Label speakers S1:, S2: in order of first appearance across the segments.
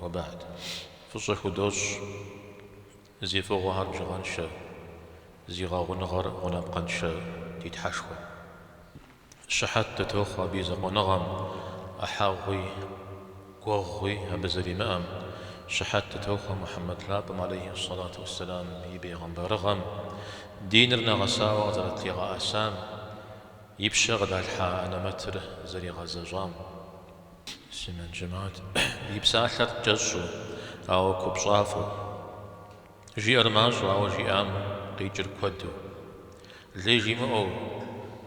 S1: Уэбагьт. Фӏыщӏэ худощӏ зи фӏыгъуэхэр бжыгъэншэ, зи гъэгъуныгъэр гъунапкъэншэ ди Тхьэшхуэм. Щыхьэт дытохъуэ абы и закъуэныгъэм, ӏыхьэгъуи, гуэгъуи абы зэримыӏэм, щыхьэт дытохъуэ Мухьэммэд лъапӏэм алейхьи ссалату уэсселам и бейгъэмбарыгъэм, диныр нэгъэсауэ къызэрытлъигъэӏэсам, и пщэ къыдалъхьа анэмэтыр зэригъэзэщӏам. Муслъымэн жэмыхьэт, и псалъэр кӏэщӏу, ауэ купщӏафӏэу. Жиӏэр мащӏэу, ауэ жиӏам къикӏыр куэду. Лей жимыӏэу,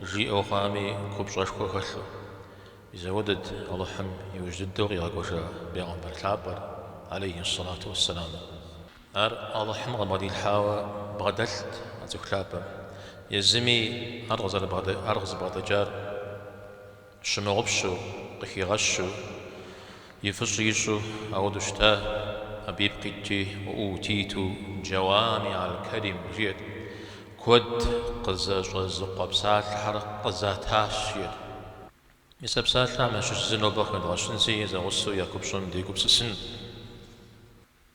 S1: жиӏэу хъуами купщӏэшхуэ хэлъу. Мис апхуэдэт Алыхьым иужь дыдэу къигъэкӏуэжа Бегъымбар Лъапӏэр, алейхьиссалату уэсселам. Ар Алыхьым къыбгъэдилъхьауэ бгъэдэлът а цӏыху лъапӏэм. Езыми ар къызыбгъэдэкӏар Щымыгъупщэу, къыхигъэщу, и фӏыщӏэ ищӏу, апхуэдэу щыта, абы ипкъ итти, уэ утиту Джауами аль-Калим, жиӏэрт. Куэд къызэщӏэзыкъуэ псалъэхэр къызатащ, жиӏэрт. Мис а псалъэхэм ящыщ зы нобэ къыхэдгъэщынщи, зэгъусэу я купщӏэм дегупсысынщ.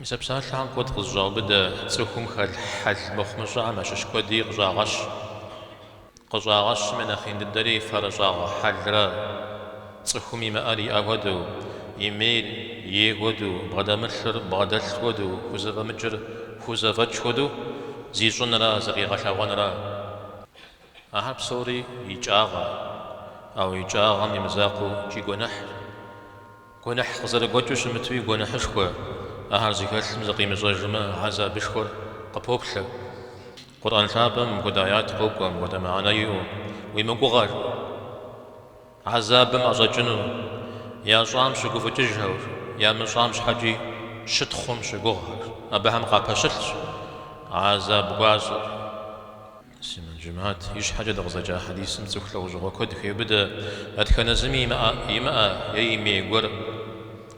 S1: Мис а псалъэхэм куэд къызэщӏаубыдэ цӏыхум хэлъ хьэл мыхъумыщӏэхэм ящыщ куэди къыщӏагъэщ. Къыщӏагъэщым я нэхъ ин дыдэри фэрыщӏагъэ хьэлрэ. Цӏыхум имыӏэр иӏэ хуэдэу, имейр ей хуэдэу, бгъэдэмылъыр бгъэдэлъ хуэдэу, хузэфӏэмыкӏыр хузэфӏэкӏ хуэдэу зищӏынрэ зыкъигъэлъэгъуэнрэ. Ахэр псори икӏагъэ, ауэ икӏагъэм и мызакъуэу икӏи гуэныхьщ. Гуэныхь къызэрыгуэкӏыу щымытуи гуэныхьышхуэ ахэр зыхэлъым зыкъимыщӏэжмэ, гьэзабышхуэр къыпоплъэ. Къурӏэн лъапӏэм мыпхуэдэ аят къокӏуэ, мыпхуэдэ мыхьэнэ иӏэу, Уи мыгугъэр, гьэзабым ӏэщӏэкӏыну, ящӏам щыгуфӏыкӏыжхэр, ямыщӏам щхьэкӏи щытхъум щыгугъхэр, абыхэм къапэщылъщ гьэзаб гуащӏэр. Муслъымэн жэмыхьэт, ищхьэкӏэ дыкъызэджа хьэдисым цӏыху лӏэужьыгъуэ куэд хеубыдэ, дэтхэнэ зыми имыӏэ е имей гуэр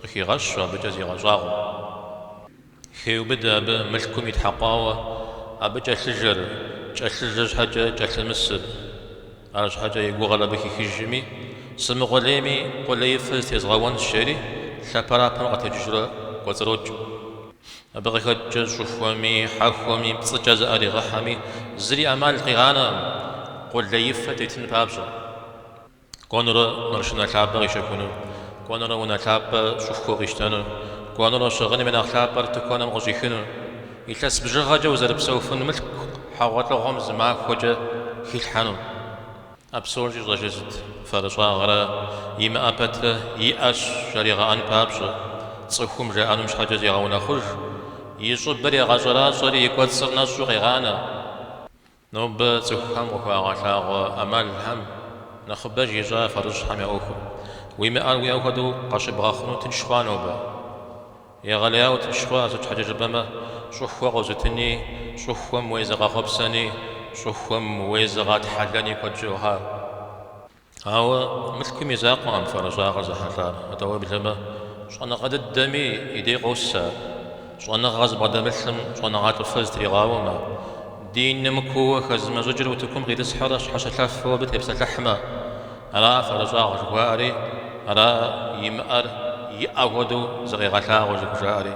S1: къыхигъэщу абыкӏэ зигъэщӏагъуэу. Хеубыдэ абы мылъкум итхьэкъуауэ, абы кӏэлъыжэр, кӏэлъыжэ щхьэкӏэ кӏэлъымысыр. Арщхьэкӏэ и гугъэр абы хихыжми, сымыкъулейми къулеифэ зытезгъэуэнщ, жери лъэпэрапэм къэтэджыжурэ кӏуэцӏрокӏ. Абы къыхэкӏкӏэ щӏыхуэми, хьэхуэми, пцӏыкӏэ зыӏэригъыхьэми зыри ӏэмал къигъанэкъым, къулеифэ тетын папщӏэ. Кӏуэнурэ маршынэ лъапӏэ къищэхуну, кӏуэнурэ унэ лъапӏэ щӏыхуэу къищтэну, кӏуэнурэ щыгъыным и нэхъ лъапӏэр тыкуэным къыщӏихыну, илъэс бжыгъэкӏэ узэрыпсэуфын мылъку хьэгъуэлӏыгъуэм зы махуэкӏэ хилъхьэну. А псори щӏищӏэр сыт фэрыщӏагъэрэ имыӏэ пэтрэ иӏэщ жаригъэӏэн папщӏэ, цӏыхум жаӏэнум щхьэкӏэ зегъэунэхъуж, и щӏыбыр егъэщӏэращӏэри и кӏуэцӏыр нэщӏу къегъанэ. Нобэ цӏыхухэм къыхуагъэлъагъуэ ӏэмалхэм нэхъыбэж ищӏа фэрыщӏхэм я ӏуэхур? Уимыӏэр уиӏэ хуэдэу къащыбгъэхъуну тынш хъуа нобэ? Егъэлеяуэ тынш хъуа, сыт щхьэкӏэ жыпӏэмэ, щӏыхуэ къозытыни, щӏыхуэм уезыгъэхъуэпсэни, щӏыхуэм уезыгъэтхьэлэни куэд щыӏэ хъуа. Ауэ мылъкум и закъуэкъым фэрыщӏагъэр зэхьэлӏар, атӏэ уеблэмэ, щӏэныгъэ дыдэми и дей къос ар. Щӏэныгъэ зыбгъэдэмылъым щӏэныгъэлӏыфэ зытригъауэмэ, диным кууэ хэзымыщӏыкӏыр утыкум къитӏысхьэрэ щхьэщылъэфу абы тепсэлъыхьмэ, Ара фэрыщӏагъэ жыхуаӏэри, ара имыӏэр иӏэ хуэдэу зыкъегъэлъагъуэ зыхужаӏэри.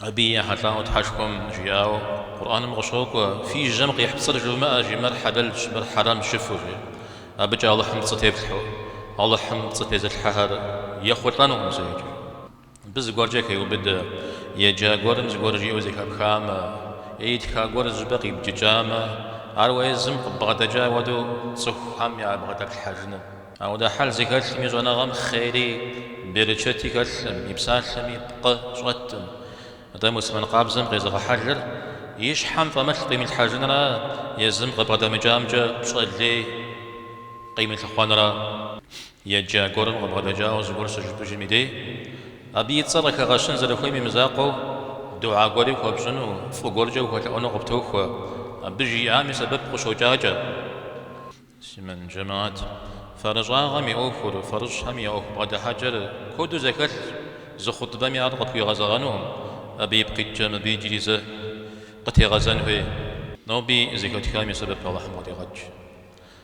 S1: Абыи ехьэлӏауэ Тхьэшхуэм жиӏауэ Къурӏэным къыщокӏуэ, Фи жьэм къихь пцӏыр жывмыӏэ, жи, мыр хьэлэлщ, мыр хьэрэмщ жыфӏэу, жи. Абыкӏэ Алыхьым пцӏы теплъхьу, Алыхьым пцӏы тезылъхьэхэр ехъулӏэнукъым зэикӏ. Мыбы зыгуэркӏэ хеубыдэ, Еджа гуэрым зыгуэр жиӏэу зэхэпхамэ, е итха гуэр зы щӏыпӏэ къибджыкӏамэ, ар уэ езым къыббгъэдэкӏа хуэдэу цӏыхухэм ябгъэдэплъхьэжыну. Апхуэдэ хьэл зыхэлъым и щӏэныгъэм хъери берычэти хэлъым, и псалъэми пкъы щӏэтым. Атӏэ муслъымэн къабзэм къезэгъ хьэлыр и щхьэм фӏэмылъ къимылъхьэжынра езым къыбгъэдэмыкӏамкӏэ пщӏэ лей къимылъыхъуэнра? Еджа гуэрым къыбгъэдэкӏауэ зыгуэр щыжыпӏэжым и дей, абы и цӏэр къыхэгъэщын зэрыхуейм имызакъуэу, дуа гуэри хуэпщӏыну, фӏы гуэркӏэ ухуэлъэӏуэну къыптохуэ, абы жиӏам и сэбэп къыщокӏакӏэ. Муслъымэн джэмат, Фэрыщӏагъэм и ӏуэхур, фэрыщӏхэм я ӏуэху бгъэдыхьэкӏэр куэду зэхэлъщ, зы хъутбэми ар къытхуигъэзэгъэнукъым, абы ипкъ иткӏэ мыбы иджыри зэ къытегъэзэн хуей. Ноби зэхэтхам и сэбэп Алыхьым къыдигъэкӏ.